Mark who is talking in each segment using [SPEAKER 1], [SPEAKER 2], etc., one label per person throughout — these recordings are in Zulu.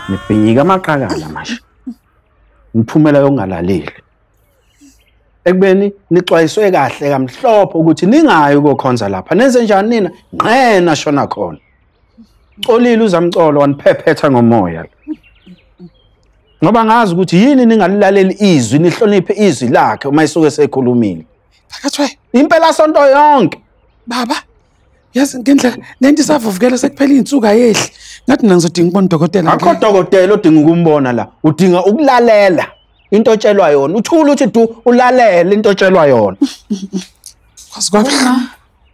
[SPEAKER 1] nibhinyika amaqakala manje niphumela yokungalaleli ekubeni nixwayiswe kahle kamhlophe ukuthi ningayi kokhonza lapha nenze njani nina nqena shona khona colile uzamcolo waniphephetha ngomoya ngoba ngazi ukuthi yini ningalilaleli izwi nihloniphe izwi lakhe uma isuke sekhulumile
[SPEAKER 2] impela sonto
[SPEAKER 1] yonke baba
[SPEAKER 2] yazi ngendlela lento isavuvukela sekuphela iy'nsuku ayehli ngathi mina ngizodinga ukubona udokotela akho dokotela odinga
[SPEAKER 1] ukumbona la udinga ukulalela into otshelwa yona uthula uthi du ulalele into otshelwa yona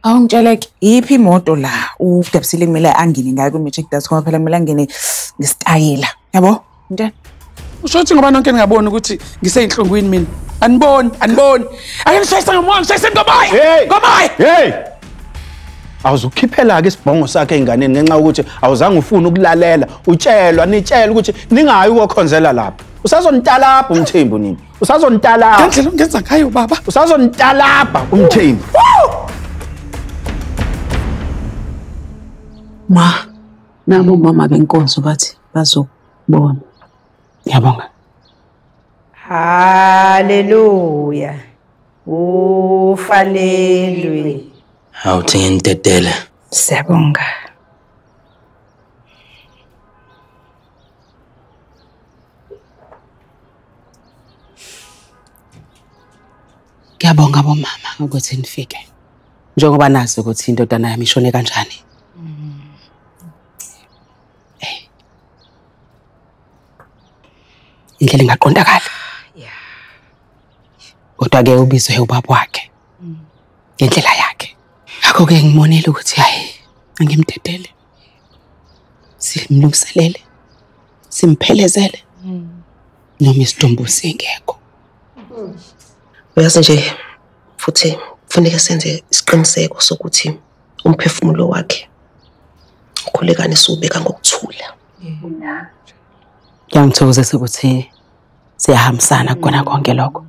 [SPEAKER 3] awungitsheleke yiphi imoto la udebusile kumele angene ngayo kwi-matric das phela kumele angene ngesitayela yabo Mntana, usho ukuthi ngoba
[SPEAKER 2] nonke ningaboni ukuthi ngiseyinhlungwini mina. Aniboni, aniboni. Ake ngishayise ngomoya, ngishayise ngomoya. Hey! Ngomoya! Hey!
[SPEAKER 1] awuzukhiphela-ke isibhongo sakhe ey'nganeni ngenxa yokuthi awuzange ufune ukulalela utshelwa nitshelwa ukuthi ningayi ukokhonzela lapho usazonitalabha umthembu nini usazonitalabha ngendlela ongenza ngayo
[SPEAKER 2] baba usazonitalabha
[SPEAKER 1] umthembu
[SPEAKER 3] ma Nabo mama benkonzo bathi bazokubona. Ngiyabonga.
[SPEAKER 4] Haleluya. Ufanelwe. Awuthi
[SPEAKER 5] ngintedele. Siyabonga.
[SPEAKER 3] Ngiyabonga bomama ukuthi nifike. njengoba nazi ukuthi indodana yami ishone kanjani indlela ingaqondakala kodwa ke ubizwe ubaba wakhe ngendlela yakhe akho ke ngimonile ukuthi hayi angimdedele simlungiselele simphelezele noma isidumbu singekho
[SPEAKER 6] uyazi nje futhi kufuneka senze isiqiniseko sokuthi umphefumulo wakhe ukhulekane siwubeka ngokuthula
[SPEAKER 3] ngiyangithokozisa ukuthi siyahambisana kukona konke lokho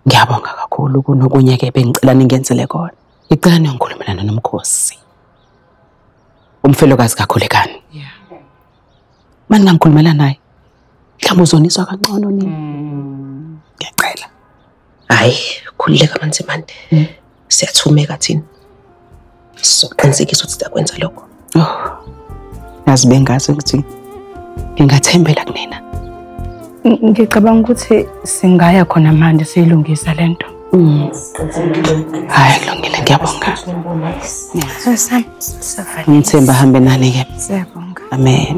[SPEAKER 3] ngiyabonga kakhulu kunokunye-ke bengicela ningenzele kona ngicela niyongikhulumelana nomkhosi umfelokazi kakhulekani uma ningangikhulumela naye mhlawumbe uzoniswa kancono nini mm. ngiyaqela
[SPEAKER 6] hayi khululeka manzimande mm. siyathumeka thina sizoqinisekisa ukuthi sakwenza lokho oh
[SPEAKER 3] yazi bengazi ukuthi ngingathembela kunina
[SPEAKER 7] ngicabanga ukuthi singaya khona manje siyilungisa lento hayi
[SPEAKER 3] kulungile ngiyabonga ngithemba hambe
[SPEAKER 7] nani
[SPEAKER 3] ke amen